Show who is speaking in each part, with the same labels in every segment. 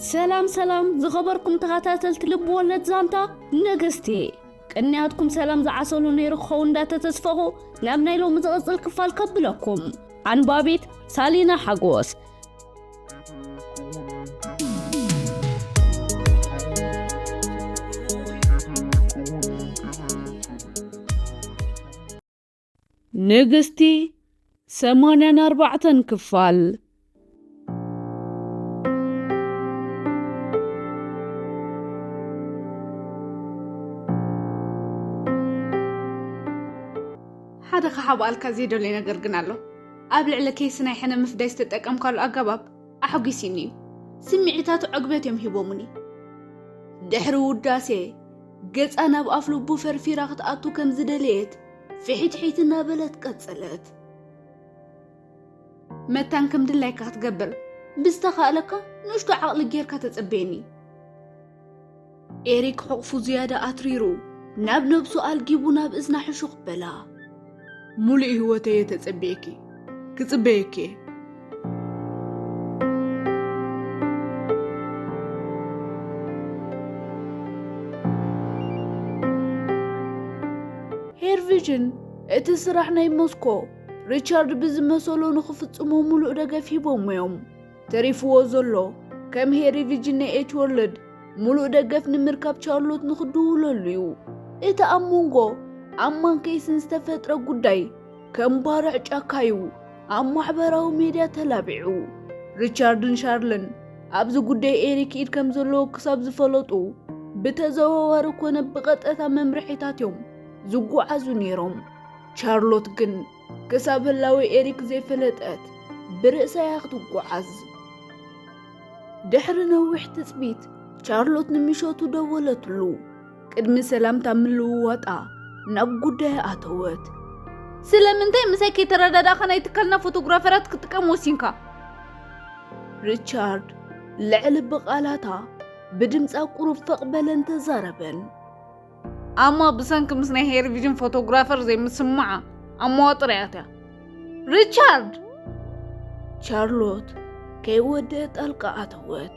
Speaker 1: ሰላም ሰላም ዝኸበርኩም ተኸታተልቲ ልቢ ወለድ ዛንታ ነገስቲ ቅንያትኩም ሰላም ዝዓሰሉ ነይሩ ክኸው እንዳተተስፈኹ ናብ ናይ ሎሚ ዝቕፅል ክፋል ከብለኩም ኣንባቢት ሳሊና ሓጎስ ንግስቲ ሰማንያን ኣርባዕተን ክፋል።
Speaker 2: ሓደ ክሓብኣልካ ዘይደልዮ ነገር ግን ኣሎ። ኣብ ልዕሊ ኬይሲ ናይ ሕነ ምፍዳይ ዝተጠቀምካሉ ኣገባብ ኣሕጒሲኒ እዩ። ስምዒታቱ ዕግበት እዮም ሂቦሙኒ። ድሕሪ ውዳሴ ገጻ ናብ ኣፍልቡ ፈርፊራ ክትኣቱ ከም ዝደለየት ፍሒትሒት እናበለት ቀጸለት። መታን ከም ድላይካ ክትገብር ብዝተኻእለካ ንእሽቶ ዓቕሊ ጌርካ ተጸበየኒ። ኤሪክ ሕቑፉ ዝያዳ ኣትሪሩ ናብ ነብሱ ኣልጊቡ ናብ እዝና ሕሹኽ በላ። ሙሉእ ህይወተይ እየ ተጸቢየኪ ክጽበየኪ እየ። ሄር ቪዥን እቲ ስራሕ ናይ ሞስኮ ሪቻርድ ብዝመሰሎ ንኽፍጽሞ ምሉእ ደገፍ ሂቦም እዮም። ተሪፍዎ ዘሎ ከም ሄሪ ቪዥን ናይ ኤች ወርልድ ምሉእ ደገፍ ንምርካብ ቻርሎት ንኽድውለሉ እዩ። እቲ ኣብ መንጎ ኣማን ኬይስን ዝተፈጥረ ጉዳይ ከም ባርዕ ጫካ'ዩ ኣብ ማሕበራዊ ሜድያ ተላቢዑ። ሪቻርድን ሻርልን ኣብዚ ጉዳይ ኤሪክ ኢድ ከም ዘለዎ ክሳብ ዝፈለጡ፣ ብተዘዋዋሪ ኮነ ብቐጥታ መምርሒታት'ዮም ዝጓዓዙ ነይሮም። ቻርሎት ግን ክሳብ ህላዌ ኤሪክ ዘይፈለጠት ብርእሳ'ያ ክትጓዓዝ። ድሕሪ ነዊሕ ትጽቢት ቻርሎት ንምሸቱ ደወለትሉ። ቅድሚ ሰላምታ ምልውዋጣ ናብ ጉዳያ ኣተወት። ስለምንታይ ምሳይ ከይተረዳዳእኻ ናይ ትካልና ፎቶግራፈራት ክትጥቀም ወሲንካ? ሪቻርድ ልዕሊ ብቓላታ ብድምፃ ቁሩብ ፈቕ በለን ተዛረበን። ኣማ ብሰንኪ ምስ ናይ ሄርቪዥን ፎቶግራፈር ዘይምስማዓ ኣብ መዋጥርያት እያ ሪቻርድ ቻርሎት ከይወደአ ጣልቃ ኣተወት።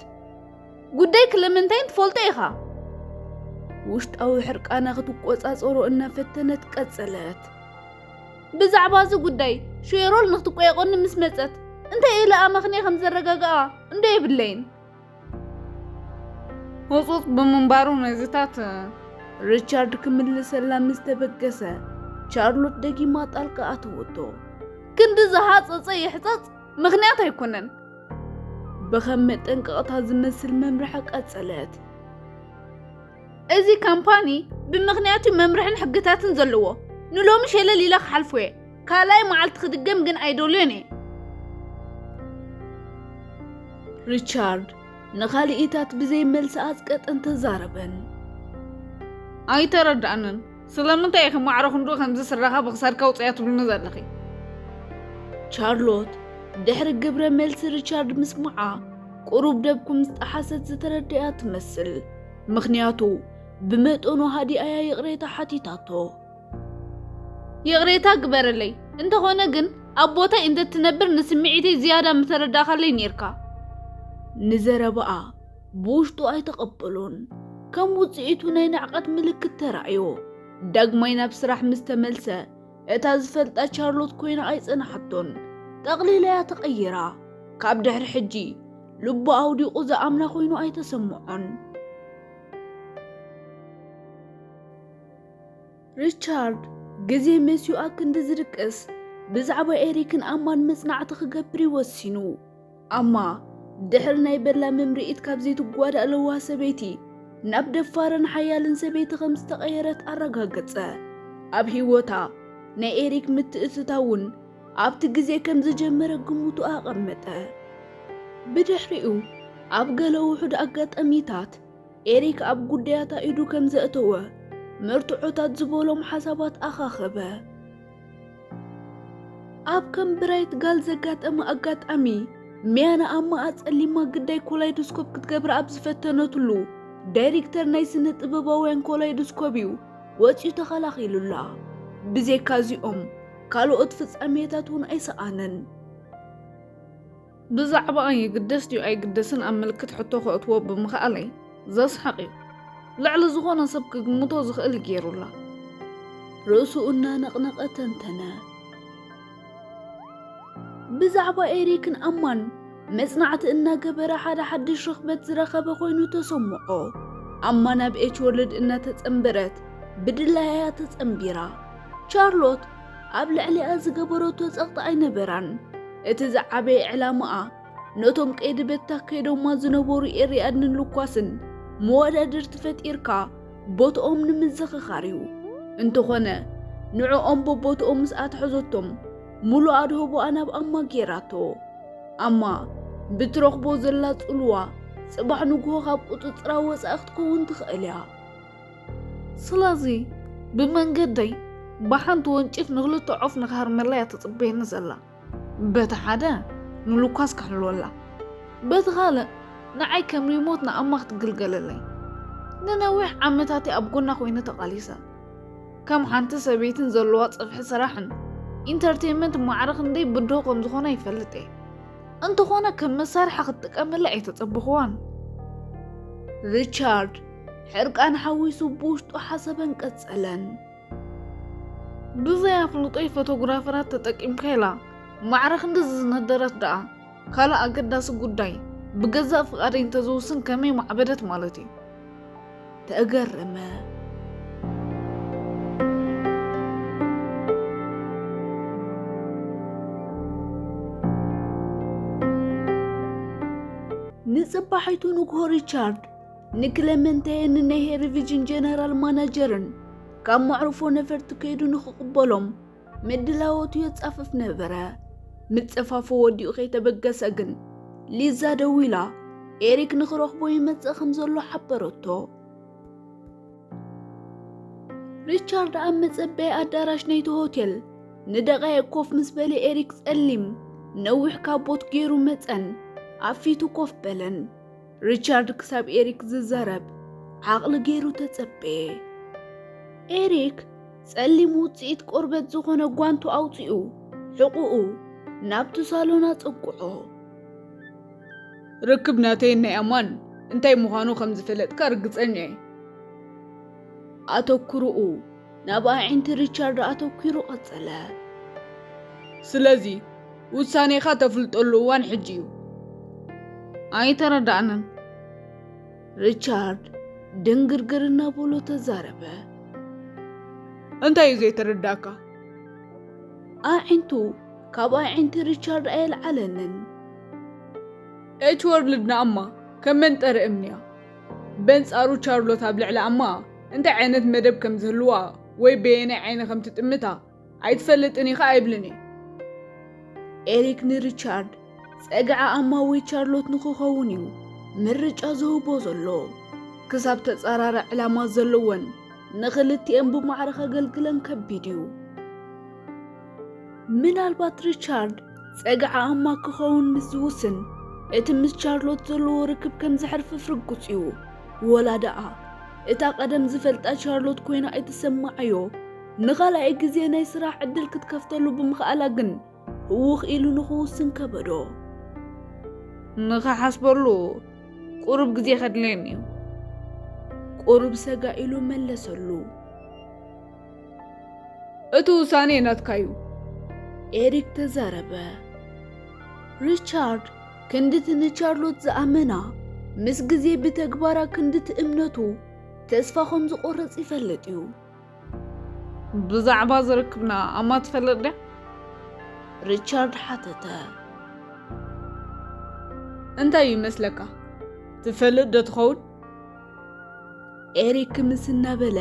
Speaker 2: ጉዳይ ክለመንታይን ትፈልጦ ኢኻ። ውሽጣዊ ሕርቃና ክትቆጻጸሮ እናፈተነት ቀጸለት። ብዛዕባ እዚ ጉዳይ ሼሮል ንክትቆየቆኒ ምስ መጸት እንታይ ኢለ ኣመኽንየ ከም ዘረጋግኣ እንዶ የብለይን። ህጹጽ ብምንባሩ ነዚታት ሪቻርድ ክምልሰላ ምስ ተበገሰ ቻርሎት ደጊማ ጣልቃ ኣተወቶ። ክንዲ ዝሃጸጸ ይሕጸጽ ምክንያት ኣይኮነን ብኸም መጠንቀቕታ ዝመስል መምርሒ ቀጸለት። እዚ ካምፓኒ ብምኽንያቱ መምርሕን ሕግታትን ዘለዎ ንሎሚ ሸለል ኢለ ክሓልፎ እየ ካልኣይ መዓልቲ ክድገም ግን ኣይደልዮን እየ ሪቻርድ ንኻልኢታት ብዘይ መልሲ ኣጽቀጠን ተዛረበን ኣይተረዳእንን ስለምንታይ ኢኺ ማዕረ ክንድኡ ከምዚ ስረኻ ብኽሳድካ ኣውጽያ ትብልኒ ዘለኺ? ቻርሎት ድሕሪ ግብረ መልሲ ሪቻርድ ምስምዓ ቁሩብ ደብኩም ዝጠሓሰት ዝተረድእያ ትመስል። ምኽንያቱ ብመጠኑ ሃዲኣያ ይቕሬታ ሓቲታቶ። ይቕሬታ ግበረለይ፣ እንተኾነ ግን ኣብ ቦታይ እንተትነብር ንስምዒተይ ዝያዳ ምተረዳእካለይ ኔርካ። ንዘረባኣ ብውሽጡ ኣይተቐበሎን። ከም ውጽኢቱ ናይ ንዕቐት ምልክት ተራእዮ። ዳግማይ ናብ ስራሕ ምስ ተመልሰ፣ እታ ዝፈልጣ ቻርሎት ኮይና ኣይጸንሓቶን። ጠቕሊላ'ያ ተቐይራ። ካብ ድሕሪ ሕጂ፣ ልቡ ኣውዲቑ ዝኣምና ኮይኑ ኣይተሰምዖን። ሪቻርድ ግዜ መሲኡ ኣክንዲ ዝድቅስ፣ ብዛዕባ ኤሪክን ኣማን መጽናዕቲ ክገብር እዩ ወሲኑ። ኣማ ድሕሪ ናይ በላ ምምርኢት ካብ ዘይትጓዳእ ለዋህ ሰበይቲ ናብ ደፋርን ሓያልን ሰበይቲ ከም ዝተቐየረት ኣረጋገጸ። ኣብ ህይወታ ናይ ኤሪክ ምትእትታውን ኣብቲ ግዜ ከም ዝጀመረ ግምቱ ኣቐመጠ። ብድሕሪኡ ኣብ ገለ ውሑድ ኣጋጣሚታት ኤሪክ ኣብ ጉዳያታ ኢዱ ከም ዘእተወ መርትዖታት ዝበሎም ሓሳባት ኣኻኸበ። ኣብ ከም ብራይት ጋል ዘጋጠመ ኣጋጣሚ ሚያ ንኣማ ኣጸሊማ ግዳይ ኮላይዶስኮፕ ክትገብር ኣብ ዝፈተነትሉ ዳይሬክተር ናይ ስነ ጥበባውያን ኮላይዶስኮፕ እዩ ወፂኡ ተኸላኺሉላ ብዘይካ እዚኦም ካልኦት ፍጻሜታት እውን ኣይሰኣነን ብዛዕባኣ ይግደስ ድዩ ኣይግደስን ኣብ ምልክት ሕቶ ከእትዎ ብምኽኣለይ ዘስሕቕ እዩ። ልዕሊ ዝኾነ ሰብ ክግምቶ ዝኽእል እዩ ገይሩላ። ርእሱ
Speaker 1: እናነቕነቐ ተንተነ። ብዛዕባ ኤሪክን ኣማን መጽናዕቲ እናገበረ ሓደ ሓድሽ ርኽበት ዝረኸበ ኮይኑ ተሰምዖ። ኣማ ናብ ኤች ወርልድ እናተጸንበረት ብድላያያ ተጸንቢራ ቻርሎት ኣብ ልዕሊኣ ዝገበረቶ ጸቕጢ ኣይነበራን። እቲ ዝዓበየ ዕላማኣ፣ ነቶም ቀይዲ በታ ከይዶማ ዝነበሩ ኤርያድ ንልኳስን መወዳድርቲ ፈጢርካ ቦትኦም ንምዝኽኻር እዩ። እንተኾነ ንዕኦም በቦትኦም ምስ ኣትሐዘቶም፣ ሙሉእ ኣድህቦኣ ናብ ኣማ ገይራቶ። ኣማ ብትረኽቦ ዘላ ጽልዋ፣ ጽባሕ ንግሆ ካብ ቁጽጽራ ወጻኢ ክትከውን ትኽእል እያ።
Speaker 2: ስለዚ ብመንገደይ ብሓንቲ ወንጭፍ ንክልተ ዖፍ ንክሃርመላ እያ ትፅበየኒ ዘላ በቲ ሓደ ንሉካስ ክሕልወላ በቲ ካልእ ንዓይ ከም ሪሞት ንኣማ ክትግልገለለይ ንነዊሕ ዓመታት እየ ኣብ ጎና ኮይነ ተቓሊሰ ከም ሓንቲ ሰበይትን ዘለዋ ፅፍሒ ስራሕን ኢንተርቴንመንት ማዕረ ክንደይ ብድሆ ከም ዝኾነ ይፈልጥ እየ እንተኾነ ከም መሳርሒ ክትጥቀመላ ኣይተፀበኹዋን ሪቻርድ
Speaker 1: ሕርቃን ሓዊሱ ብውሽጡ ሓሰበን ቀጸለን። ብዘይ
Speaker 2: ኣፍልጦይ ፎቶግራፈራት ተጠቂምካ ኢላ ማዕረ ክንድዚ ዝነደረት ደኣ ካልእ ኣገዳሲ ጉዳይ ብገዛእ ፍቓደይ እንተዝውስን ከመይ ማዕበደት ማለት እዩ። ተገረመ።
Speaker 1: ንጽባሒቱ ንግሆ ሪቻርድ ንክለመንታየን ንናይ ሄሪቪጅን ጀነራል ማናጀርን ካብ መዕርፎ ነፈርቲ ከይዱ ንክቕበሎም ምድላዎቱ የጻፍፍ ነበረ። ምጽፋፉ ወዲኡ ከይተበገሰ ግን ሊዛ ደዊላ ኤሪክ ንክረኽቦ ይመጽእ ከም ዘሎ ሓበረቶ። ሪቻርድ ኣብ መጸበይ ኣዳራሽ ናይቲ ሆቴል ንደቓይቅ ኮፍ ምስ በለ ኤሪክ ጸሊም ነዊሕ ካቦት ገይሩ መጸን ኣብ ፊቱ ኮፍ በለን። ሪቻርድ ክሳብ ኤሪክ ዝዛረብ ዓቕሊ ገይሩ ተጸበየ። ኤሪክ ጸሊም ውጽኢት ቆርበት ዝኾነ ጓንቱ ኣውጺኡ ሕቑኡ ናብቲ ሳሎን ኣጸጉዖ።
Speaker 2: ርክብ ናተይን ናይ ኣማን እንታይ ምዃኑ ከም ዝፈለጥካ ርግጸኛ እየ።
Speaker 1: ኣተኩርኡ ናብ ኣዒንቲ ሪቻርድ ኣተኲሩ ቐጸለ።
Speaker 2: ስለዚ፣ ውሳኔኻ ተፍልጠሉ እዋን ሕጂ'ዩ። ኣይተረዳእንን። ሪቻርድ
Speaker 1: ድንግርግር እናበሎ ተዛረበ።
Speaker 2: እንታይ'ዩ ዘይተረዳእካ? ኣዒንቱ
Speaker 1: ካብ ኣዒንቲ ሪቻርድ ኣየልዓለንን።
Speaker 2: ኤች-ወርልድ ንኣማ ከም መንጠሪ እምኒ'ያ። በንጻሩ ቻርሎት ኣብ ልዕሊ ኣማ እንታይ ዓይነት መደብ ከም ዝህልዋ ወይ በየናይ ዓይኒ ከም ትጥምታ ኣይትፈልጥን ኢኻ ኣይብልን እዩ።
Speaker 1: ኤሪክ ንሪቻርድ ጸግዒ ኣማ ወይ ቻርሎት ንኽኸውን እዩ ምርጫ ዝህቦ ዘሎ። ክሳብ ተጻራሪ ዕላማ ዘለወን ንኽልቲኤን ብማዕረ ከገልግለን ከቢድ እዩ። ምናልባት ሪቻርድ ጸግዒ ኣማ ክኸውን ምስ ዝውስን እቲ ምስ ቻርሎት ዘለዎ ርክብ ከም ዘሕርፍፍ ርጉጽ እዩ ወላ ደኣ እታ ቀደም ዝፈልጣ ቻርሎት ኮይና ኣይትሰማዓዮ ንኻልኣይ ግዜ ናይ ስራሕ ዕድል ክትከፍተሉ ብምኽኣላ ግን ህውኽ ኢሉ ንኽውስን ከበዶ
Speaker 2: ንኽሓስበሉ ቁሩብ ግዜ ከድልየኒ እዩ
Speaker 1: ቁሩብ ሰጋ ኢሉ መለሰሉ
Speaker 2: እቲ ውሳኔ ናትካ እዩ። ኤሪክ
Speaker 1: ተዛረበ። ሪቻርድ ክንድቲ ንቻርሎት ዝኣመና ምስ ግዜ ብተግባራ ክንድቲ እምነቱ ተስፋ ከም ዝቆረጽ ይፈልጥ እዩ። ብዛዕባ
Speaker 2: ዝርክብና ኣማ ትፈልጥ ድያ?
Speaker 1: ሪቻርድ ሓተተ።
Speaker 2: እንታይ ይመስለካ ትፈልጥ ዶ ትኸውን? ኤሪክ
Speaker 1: ክምስ እናበለ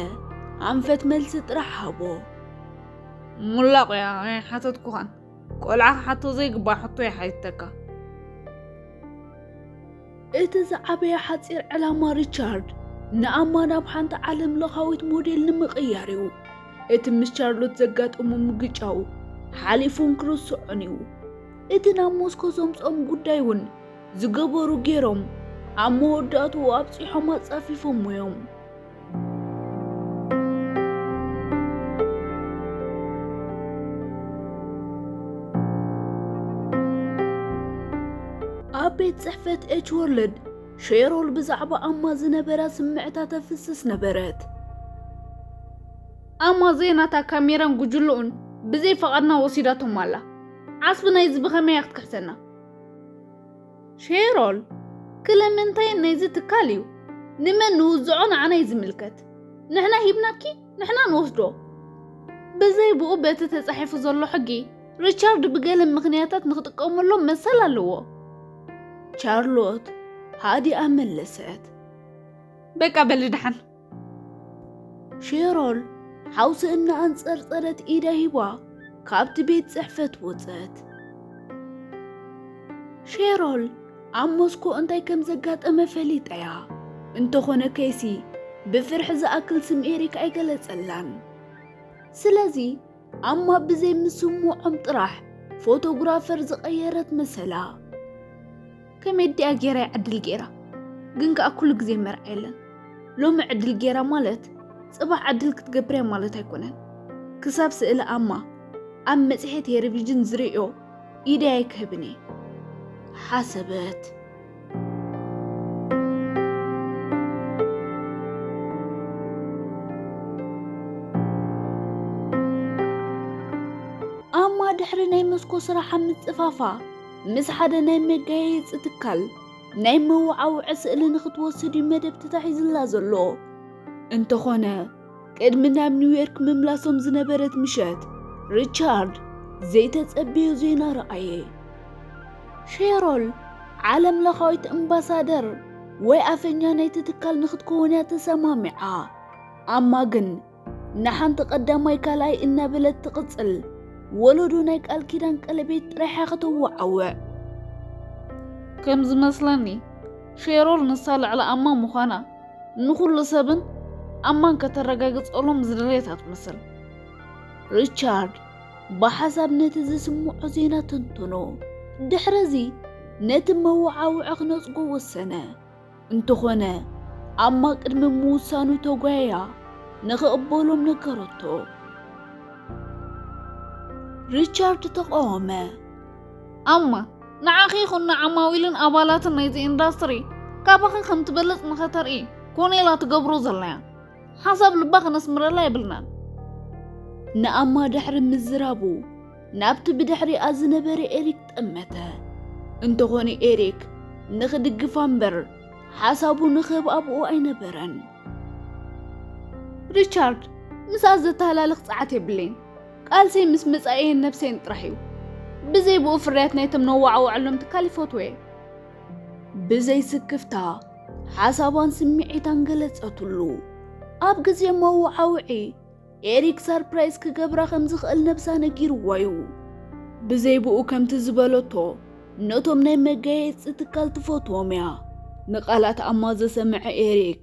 Speaker 1: ኣንፈት መልሲ ጥራሕ ሃቦ
Speaker 2: ሙላቑያ ኣይሓተትኩኻን ቆልዓ ክሓቶ ዘይግባእ ሕቶ ይሓይተካ
Speaker 1: እቲ ዝዓበየ ሓፂር ዕላማ ሪቻርድ ንኣማ ናብ ሓንቲ ዓለም ለኻዊት ሞዴል ንምቕያር እዩ እቲ ምስ ቻርሎት ዘጋጠሙ ምግጫው ሓሊፉን ክርስዖን እዩ እቲ ናብ ሞስኮ ዘምፅኦም ጉዳይ እውን ዝገበሩ ገይሮም ኣብ መወዳእትኡ ኣብፂሖም ኣፃፊፎሞ እዮም።
Speaker 2: ኣብ ቤት ፅሕፈት ኤች ወርልድ ሼሮል ብዛዕባ ኣማ ዝነበራ ስምዕታ ተፍስስ ነበረት። ኣማ ዘይናታ ካሜራን ጉጅልኡን ብዘይ ፈቓድና ወሲዳቶም ኣላ። ዓስቢ ናይዚ ብኸመይ እያ ክትክሕሰና? ሼሮል ክለምንታይ ናይዚ ትካል እዩ ንመን ንውዝዖ ንዓና እዩ ዝምልከት ንሕና ሂብናኪ ንሕና ንወስዶ ብዘይ ብኡ በቲ ተጻሒፉ ዘሎ ሕጊ ሪቻርድ ብገለ ምኽንያታት ንኽጥቀመሎም መሰል ኣለዎ ቻርሎት ሃዲኣ መለሰት በቃ በሊ ደሓን ሼሮን ሓውሲ እናኣንጸርጸረት ኢዳ ሂባ ካብቲ ቤት ጽሕፈት ወጸት። ሼሮል ኣብ ሞስኮ እንታይ ከም ዘጋጠመ ፈሊጣ እያ። እንተኾነ ከይሲ ብፍርሒ ዝኣክል ስም ኤሪክ ኣይገለጸላን። ስለዚ ኣማ ብዘይ ምስምዖም ጥራሕ ፎቶግራፈር ዝቐየረት መሰላ። ከመይ ድያ ጌራ ይዕድል ጌራ ግን ከኣ ኩሉ ግዜ መርዓ የለን ሎሚ ዕድል ጌራ ማለት ጽባሕ ዕድል ክትገብርያ ማለት ኣይኮነን ክሳብ ስእሊ ኣማ ኣብ መጽሔት ቴሌቪዥን ዝርእዮ ኢደይ ኣይክህብን እየ ሓሰበት ኣማ ድሕሪ ናይ መስኮ ስራሓ ምጽፋፋ ምስ ሓደ ናይ መጋየፂ ትካል ናይ መወዓውዒ ስእሊ ንክትወስድ እዩ መደብ ተታሒዝላ ዘሎ እንተኾነ ቅድሚ ናብ ኒውዮርክ ምምላሶም ዝነበረት ምሸት ሪቻርድ ዘይተጸብዮ ዜና ረኣየ። ሼሮል ዓለም ለኻዊት እምባሳደር ወይ ኣፈኛ ናይቲ ትካል ንክትከውን እያ ተሰማሚዓ። ኣማ ግን ንሓንቲ ቀዳማይ ካልኣይ እናበለት ትቕጽል ወለዶ ናይ ቃል ኪዳን ቀለቤት ጥራሕ እያ ከተወዓውዕ። ከም ዝመስለኒ ሼሮል ንሳ ልዕሊ ኣማ ምዃና ንኹሉ ሰብን ኣማን ከተረጋግጸሎም ዝደለየት ኣትመስል። ሪቻርድ ብሓሳብ ነቲ ዝስምዖ ዜና ተንተኖ። ድሕሪ እዚ ነቲ መወዓውዒ ክነጽጎ ወሰነ። እንተኾነ ኣማ ቅድሚ ምውሳኑ ተጓያ ንኽቕበሎም ነገረቶ። ሪቻርድ ተቃወመ። ኣማ ንዓኺ ይኹን ንዓማዊልን ኣባላትን ናይዚ ኢንዳስትሪ ካባኺ ከም ትበልጽ ንኸተርኢ ኮኔላ ትገብሮ ዘላያ ሓሳብ ልባ ክነስምረላ የብልናን። ንኣማ ድሕሪ ምዝራቡ ናብቲ ብድሕሪኣ ዝነበረ ኤሪክ ጠመተ። እንተኾነ ኤሪክ ንኽድግፋ እምበር ሓሳቡ ንኽህብ ኣብኡ ኣይነበረን። ሪቻርድ፣ ምስኣ ዘተሃላልኽ ጸዓት የብለይን። ቃልሰይ ምስ መጻኢየን ነብሰይን ጥራሕ እዩ። ብዘይ ብኡ ፍርያት ናይቶም ነዋዓውዐሎም ትካል ይፈትወየ። ብዘይ ስክፍታ ሓሳባን ስምዒታን ገለጸትሉ። ኣብ ግዜ መወዓውዒ ኤሪክ ሳርፕራይዝ ክገብራ ከም ዝኽእል ነብሳ ነጊርዋ እዩ። ብዘይ ብኡ ከምቲ ዝበለቶ ነቶም ናይ መጋየጺ ትካል ትፈትዎም እያ። ንቓላትኣማ ዘሰምዐ ኤሪክ፣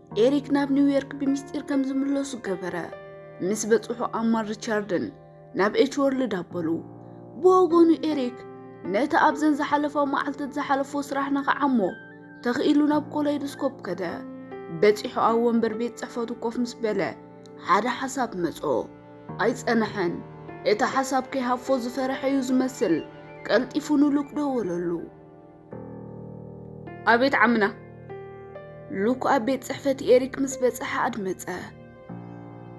Speaker 2: ኤሪክ ናብ ኒውዮርክ ብምስጢር ከም ዝምለሱ ገበረ። ምስ በጽሑ ኣማን ሪቻርድን ናብ ኤች ወርልድ ኣበሉ። ብወገኑ ኤሪክ ነቲ ኣብዘን ዝሓለፋ መዓልትት ዝሓለፎ ስራሕ ንኸዓሞ ተኽኢሉ ናብ ኮላይዶስኮፕ ከደ። በጺሑ ኣብ ወንበር ቤት ጽሕፈቱ ኮፍ ምስ በለ ሓደ ሓሳብ መጾ። ኣይጸንሐን። እቲ ሓሳብ ከይሃፎ ዝፈረሐ እዩ ዝመስል። ቀልጢፉ ንሉክ ደወለሉ። ኣቤት ዓምና! ሉክ ኣብ ቤት ጽሕፈት ኤሪክ ምስ በጽሐ ኣድመጸ።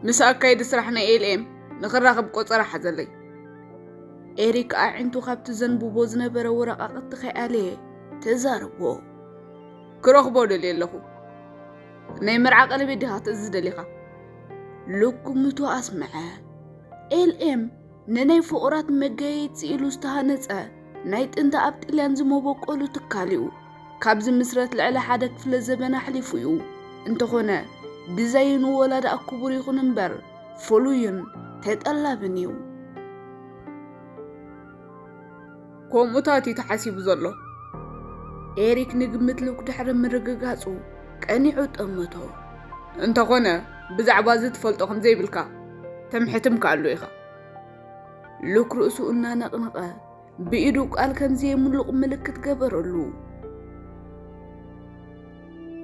Speaker 2: ምስ ኣካይዲ ስራሕ ናይ ኤልኤም ንኽራኸብ ቆጸራ ሓዘለይ። ኤሪክ ኣዒንቱ ካብቲ ዘንብቦ ዝነበረ ወረቓቕቲ ከይኣለየ ተዛረቦ። ክረኽቦ ደልየ ኣለኹ። ናይ መርዓ ቀለቤት ዲኻ ትእዝዝ ደሊኻ? ሉክ ግምቱ ኣስምዐ። ኤልኤም ንናይ ፍቑራት መጋየይጺ ኢሉ ዝተሃነጸ ናይ ጥንቲ ኣብ ጥልያን ዝመበቆሉ ትካል እዩ። ካብ ዝምስረት ልዕሊ ሓደ ክፍለ ዘበን ኣሕሊፉ እዩ። እንተኾነ ዲዛይኑ ወላ ደኣ ክቡር ይኹን እምበር ፍሉይን ተጠላብን እዩ። ከምኡታት እዩ ተሓሲቡ ዘሎ። ኤሪክ ንግምት ሉክ ድሕሪ ምርግጋጹ ቀኒዑ ጠመቶ። እንተኾነ ብዛዕባ እዚ ትፈልጦ ከም ዘይብልካ ተምሕትምካሉ ኢኻ። ሉክ ርእሱ እናነቕነቐ ብኢዱ ቃል ከም ዘየምሉቕ ምልክት ገበረሉ።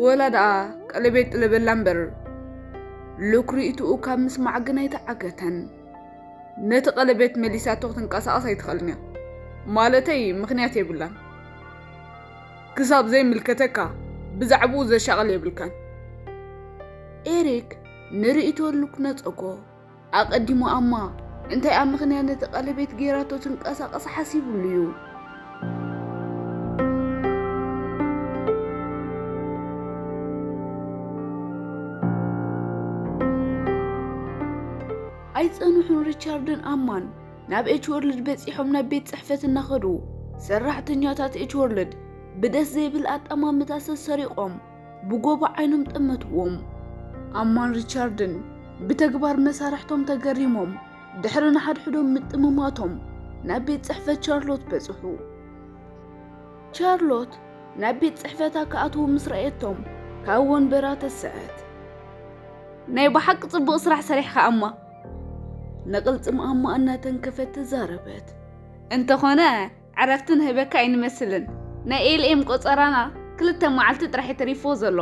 Speaker 2: ወላ ደኣ ቀለቤት ጥለበላ እምበር ሉክ ርእይትኡ ካብ ምስማዕ ግን ኣይተዓገተን። ነቲ ቀለቤት መሊሳቶ ክትንቀሳቐስ ኣይትኽእልን እያ። ማለተይ ምኽንያት የብላን። ክሳብ ዘይምልከተካ ብዛዕብኡ ዘሻቕል የብልካን። ኤሪክ ንርእይቶሉ ክነጸጎ ኣቐዲሙ ኣማ እንታይ ኣብ ምኽንያት ነቲ ቀለቤት ጌራቶ ትንቀሳቐስ ሓሲቡሉ እዩ። ኣይጸንሑን ሪቻርድን ኣማን ናብ ኤች ወርልድ በጺሖም ናብ ቤት ጽሕፈት እናኸዱ ሰራሕተኛታት ኤች ወርልድ ብደስ ዘይብል ኣጠማምታ ሰሰሪቖም ብጎቦ ዓይኖም ጠመትዎም። ኣማን ሪቻርድን ብተግባር መሳርሕቶም ተገሪሞም ድሕሪ ንሓድሕዶም ምጥምማቶም ናብ ቤት ጽሕፈት ቻርሎት በጽሑ። ቻርሎት ናብ ቤት ጽሕፈታ ክኣትዉ ምስ ረኣየቶም ካብ ወንበራ ተስዐት። ናይ ብሓቂ ጽቡቕ ስራሕ ሰሪሕካ ኣማ ንቕልጽም ኣማ እናተንከፈት ተዛረበት። እንተኾነ ዕረፍቲ ንህበካ ኣይንመስልን ናይ ኤልኤም ቆጸራና ክልተ መዓልቲ ጥራሕ ተሪፎ ዘሎ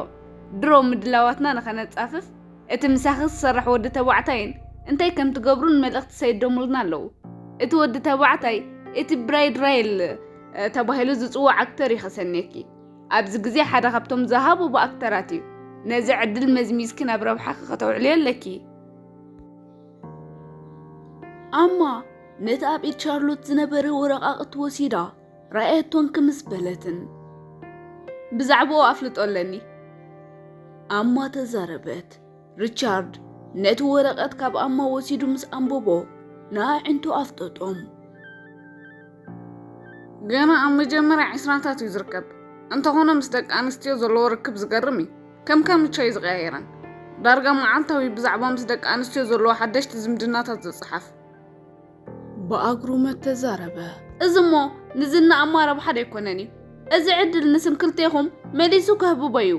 Speaker 2: ድሮ ምድላዋትና ንኸነጻፍፍ እቲ ምሳኺ ዝሰርሕ ወዲ ተባዕታይን እንታይ ከም ትገብሩን መልእኽቲ ሰይዶሙልና ኣለዉ እቲ ወዲ ተባዕታይ እቲ ብራይድ ራይል ተባሂሉ ዝጽዋዕ ኣክተር እዩ ከሰንየኪ ኣብዚ ግዜ ሓደ ካብቶም ዝሃበቡ ኣክተራት እዩ ነዚ ዕድል መዝሚዝኪ ናብ ረብሓኺ ከተውዕልዮ ኣለኪ ኣማ ነቲ ኣብ ኢድ ቻርሎት ዝነበረ ወረቓቕቲ ወሲዳ ራእየቶን ክምስ በለትን ብዛዕባኡ ኣፍልጦ ኣለኒ ኣማ ተዛረበት ሪቻርድ ነቲ ወረቐት ካብ ኣማ ወሲዱ ምስ ኣንበቦ ንኣዒንቱ ኣፍጠጦም። ገና ኣብ መጀመርያ ዕስራታት እዩ ዝርከብ እንተኾነ ምስ ደቂ ኣንስትዮ ዘለዎ ርክብ ዝገርም እዩ ከም ከምቻ እዩ ዝቀያየረን ዳርጋ መዓልታዊ ብዛዕባ ምስ ደቂ ኣንስትዮ ዘለዎ ሓደሽቲ ዝምድናታት ዝፅሓፍ ብኣግሩመት ተዛረበ። እዚ እሞ ንዝና እማ ረብሓ ደይኮነን እዩ። እዚ ዕድል ንስም ክልቴኹም መሊሱ ከህብቦ እዩ።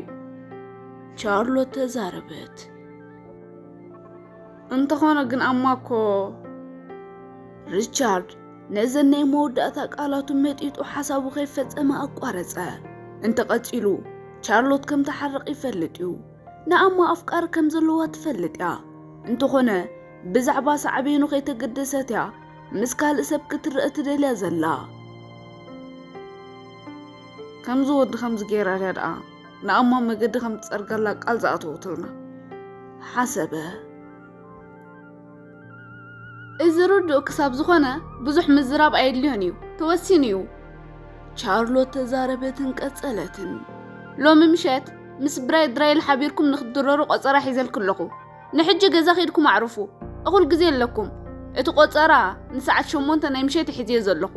Speaker 2: ቻርሎት ተዛረበት። እንተኾነ ግን ኣማ እኮ ሪቻርድ ነዘን ናይ መወዳእታ ቃላቱ መጢጡ ሓሳቡ ከይፈጸመ ኣቋረጸ። እንተ ቀጺሉ ቻርሎት ከም ትሓርቕ ይፈልጥ እዩ። ንኣማ ኣፍቃሪ ከም ዘለዋ ትፈልጥ እያ። እንተኾነ ብዛዕባ ሳዕቤኑ ከይተገደሰት እያ ምስ ካልእ ሰብ ክትረአ ትደልያ ዘላ። ከምዚ ወዲ ከምዚ ገይራ ድያ ደኣ ንኣማ መገዲ ከም ትጸርገላ ቃል ዝኣተወትልና ሓሰበ። እዚ ርዱእ ክሳብ ዝኾነ ብዙሕ ምዝራብ ኣየድልዮን እዩ፣ ተወሲኑ እዩ። ቻርሎት ተዛረበትን ቀጸለትን። ሎሚ ምሸት ምስ ብራይ ድራይል ሓቢርኩም ንክትድረሩ ቆጸራ ሒዘልኪ ኣለኹ። ንሕጂ ገዛ ኬድኩም ኣዕርፉ እኹል ግዜ ኣለኩም። እቲ ቆጸራ ንሰዓት ሸሞንተ ናይ ምሸት ሒዝዮ ዘለኹ።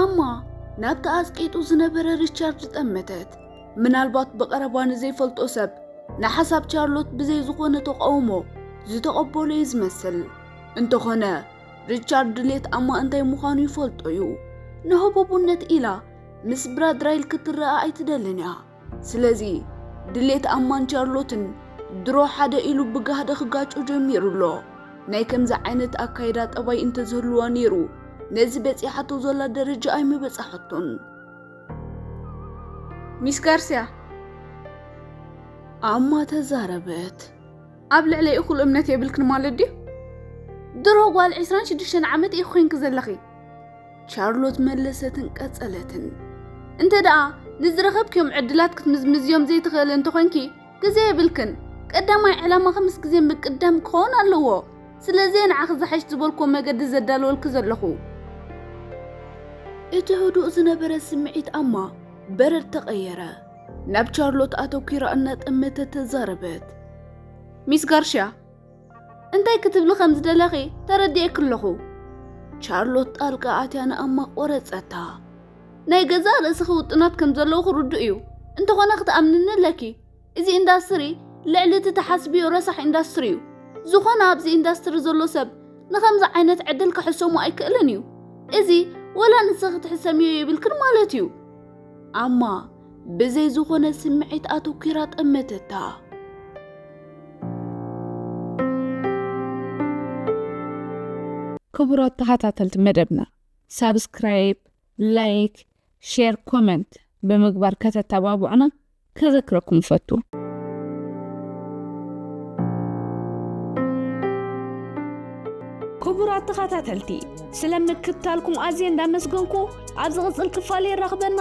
Speaker 2: ኣማ ናብ ተኣጽቂጡ ዝነበረ ሪቻርድ ዝጠመተት ምናልባት ብቐረባ ንዘይፈልጦ ሰብ ንሓሳብ ቻርሎት ብዘይ ዝኾነ ተቓውሞ ዝተቐበሎ እዩ ዝመስል። እንተኾነ ሪቻርድ ድሌት ኣማ እንታይ ምዃኑ ይፈልጦ እዩ። ንህቡብነት ኢላ ምስ ብራድራይል ክትረኣ ኣይትደልን እያ። ስለዚ ድሌት ኣማን ቻርሎትን ድሮ ሓደ ኢሉ ብጋህዲ ክጋጮ ጀሚሩ ኣሎ። ናይ ከምዚ ዓይነት ኣካይዳ ጠባይ እንተዝህልዋ ነይሩ ነዚ በጺሓቶ ዘላ ደረጃ ኣይምበጻሐቶን። ሚስ ጋርሲያ ኣማ ተዛረበት። ኣብ ልዕለይ እኹል እምነት የብልክን ማለት ድዩ? ድሮ ጓል ዕስራን ሽዱሽተን ዓመት ኢኺ ኮንኪ ዘለኺ። ቻርሎት መለሰትን ቀጸለትን እንተ ደኣ ንዝረኸብክዮም ዕድላት ክትምዝምዝዮም ዘይትኽእል እንተኾይንኪ ግዜ የብልክን ቀዳማይ ዕላማኺ ምስ ግዜ ምቅዳም ክኸውን ኣለዎ ስለዚ ንዓኺ ዝሓሽ ዝበልኮ መገዲ ዘዳለወልኪ ዘለኹ እቲ ህዱእ ዝነበረ ስምዒት ኣማ በረድ ተቐየረ ናብ ቻርሎት ኣተኲራ እናጠመተ ተዛረበት ሚስ ጋርሽያ እንታይ ክትብሊ ከም ዝደለኺ ተረዲኤኪ ኣለኹ። ቻርሎት ጣልቃ ኣትያ ንኣማ ቆረጸታ። ናይ ገዛእ ርእስኺ ውጥናት ከም ዘለውኺ ርዱእ እዩ፣ እንተኾነ ክትኣምንኒ ኣለኪ። እዚ ኢንዳስትሪ ልዕሊ እቲ ትሓስብዮ ረሳሕ ኢንዳስትሪ እዩ። ዝኾነ ኣብዚ ኢንዳስትሪ ዘሎ ሰብ ንኸምዚ ዓይነት ዕድል ክሕሰሞ ኣይክእልን እዩ። እዚ ወላ ንስኺ ክትሕሰምዮ የብልክን ማለት እዩ። ኣማ ብዘይ ዝኾነ ስምዒት ኣተኲራ ጠመተታ።
Speaker 3: ክቡራት ተኸታተልቲ መደብና ሳብስክራይብ፣ ላይክ፣ ሼር፣ ኮመንት ብምግባር ከተተባብዑና ከዘክረኩም ፈቱ።
Speaker 1: ክቡራት ተኸታተልቲ ስለ ምክትታልኩም ኣዝየ እንዳመስገንኩ ኣብ ዝቕፅል ክፋል የራኽበና።